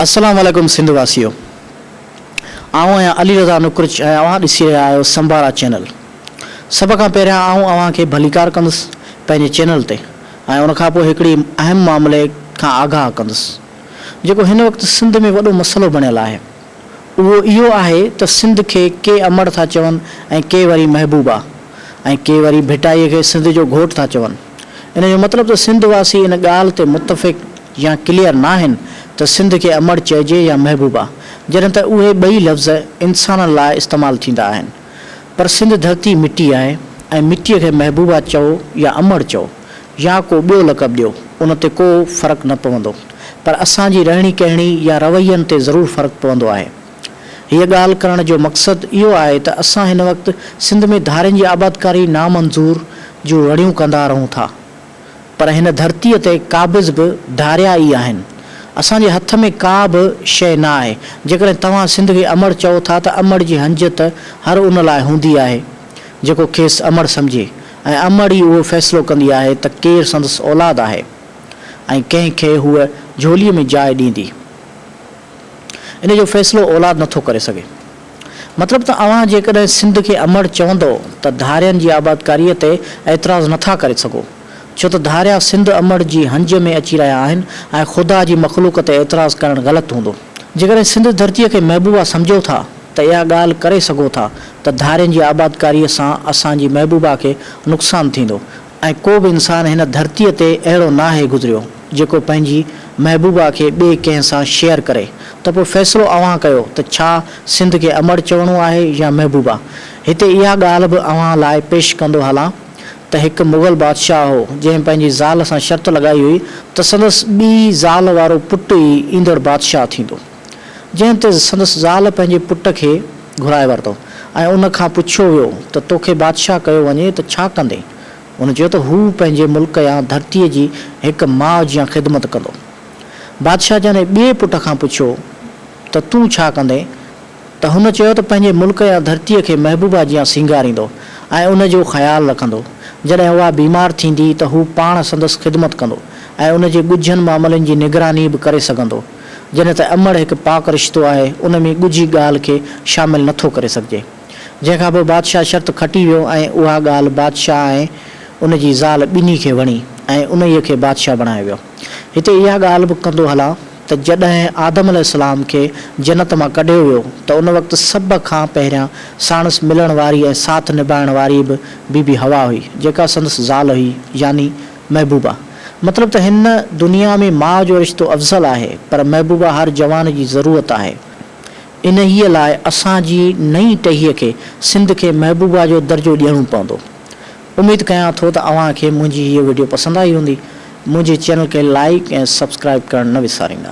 السلام عليڪم سنڌ واسيو آئون آهيان علي رضا نقرچ ۽ اوهان ڏسي رهيا آهيو سمبارا چينل سڀ کان پهريان آئون اوهان کي ڀليڪار ڪندس پنهنجي چينل تي ۽ ان کان پوء هڪڙي اهم معاملي کان آگاهه ڪندس جيڪو هن وقت سنڌ ۾ وڏو مسئلو بڻيل آهي اهو اهو آهي ته سنڌ کي ڪي امڙ ٿا چون ۽ ڪي وري محبوبا ۽ ڪي وري ڀٽائي کي سنڌ جو گهوٽ ٿا چون. ان جو مطلب ته سنڌ واسي ان ڳالهه تي متفق يا ڪليئر ناهن ته سنڌ کي امڙ چئجي يا محبوبا جڏهن ته اهي ٻئي لفظ انسانن لاء استعمال ٿيندا آهن پر سنڌ ڌرتي مٽي آهي ۽ مٽي کي محبوبا چئو يا امڙ چئو يا ڪو ٻيو لقب ڏيو ان تي ڪو فرق نه پوندو پر اسان جي رهڻي ڪهڻي يا روين تي ضرور فرق پوندو آهي. هيء ڳالهه ڪرڻ جو مقصد اهو آهي ته اسان هن وقت سنڌ ۾ ڌارين جي آبادڪاري نامنظور جون رڙيون ڪندا رهون ٿا پر هن ڌرتيء تي قابض به ڌاريا ئي آهن. اسان جي هٿ ۾ ڪا به شيء نه آهي. جيڪڏهن توهان سنڌ کي امڙ چئو ٿا ته امڙ جي هنج ته هر ان لاء هوندي آهي جيڪو کيس امڙ سمجهي. ۽ امڙ ئي اهو فيصلو ڪندي آهي ته ڪير سندس اولاد آهي ۽ ڪنهن کي هوء جهوليء ۾ جاء ڏيندي. ان جو فيصلو اولاد نه ٿو ڪري سگهي. مطلب ته اوهان جيڪڏهن سنڌ کي امڙ چوندؤ ته ڌارين جي آبادڪاريء تي اعتراض نه ٿا ڪري سگهو، ڇو ته ڌاريا سنڌ امڙ جي هنج ۾ اچي رهيا آهن ۽ خدا جي مخلوق تي اعتراض ڪرڻ غلط هوندو. جيڪڏهن سنڌ ڌرتيء کي محبوبا سمجهو ٿا ته اها ڳالهه ڪري سگهو ٿا ته ڌارين جي آبادڪاريء سان اسان جي محبوبا کي نقصان ٿيندو ۽ ڪو به انسان هن ڌرتيء تي اهڙو ناهي گذريو جيڪو پنهنجي محبوبا کي ٻئي ڪنهن سان شيئر ڪري ته پوء فيصلو اوهان ڪيو ته ڇا سنڌ کي امڙ چوڻو آهي يا محبوبا هتي اها ڳالهه به اوهان لاء پيش ڪندو هلان ته هڪ مغل بادشاهه هو جنهن پنهنجي زال سان شرط لڳائي هئي ته سندس ٻي زال وارو پٽ ئي ايندڙ بادشاهه ٿيندو. جنهن تي سندس زال پنهنجي پٽ کي گهرائي ورتو ۽ ان کان پڇيو ويو ته توکي بادشاهه ڪيو وڃي ته ڇا ڪندين؟ ان چيو ته هو پنهنجي ملڪ يا ڌرتيء جي هڪ ماء جيان خدمت ڪندو. بادشاهه جنهن ٻئي پٽ کان پڇيو ته تون ڇا ڪندين؟ ته هن چيو ته پنهنجي ملڪ يا ڌرتيء کي محبوبا جيان سينگاريندو ۽ ان جو خيال رکندو. جڏهن اها بيمار ٿيندي ته هو پاڻ سندس خدمت ڪندو ۽ ان جي ڳجهن معاملن جي نگراني به ڪري سگهندو. جڏهن ته امڙ هڪ پاڪ رشتو آهي، ان ۾ ڳجهي ڳالهه کي شامل نٿو ڪري سگهجي. جنهن کان پوء بادشاهه شرط کٽي ويو ۽ اها ڳالهه بادشاهه ۽ ان جي زال ٻنهي کي وڻي ۽ انهيء کي بادشاهه بڻايو ويو. هتي اها ڳالهه به ڪندو هلان ته جڏهن آدم عليه السلام کي جنت مان ڪڍيو ويو ته ان وقت سڀ کان پهريان ساڻس ملڻ واري ۽ ساٿ نڀائڻ واري به بي بي حوا هئي، جيڪا سندس زال هئي، يعني محبوبا، مطلب ته هن دنيا ۾ ماء جو رشتو افضل آهي، پر محبوبا هر جوان جي ضرورت آهي. انهيء لاء اسان جي نئين ٽهيء کي سنڌ کي محبوبا جو درجو ڏيڻو پوندو. اميد ڪيان ٿو ته اوهان کي منهنجي هيء وڊيو پسند آئي هوندي. منهنجي چينل کي لائيڪ ۽ سبسڪرائيب ڪرڻ نه وساريندا.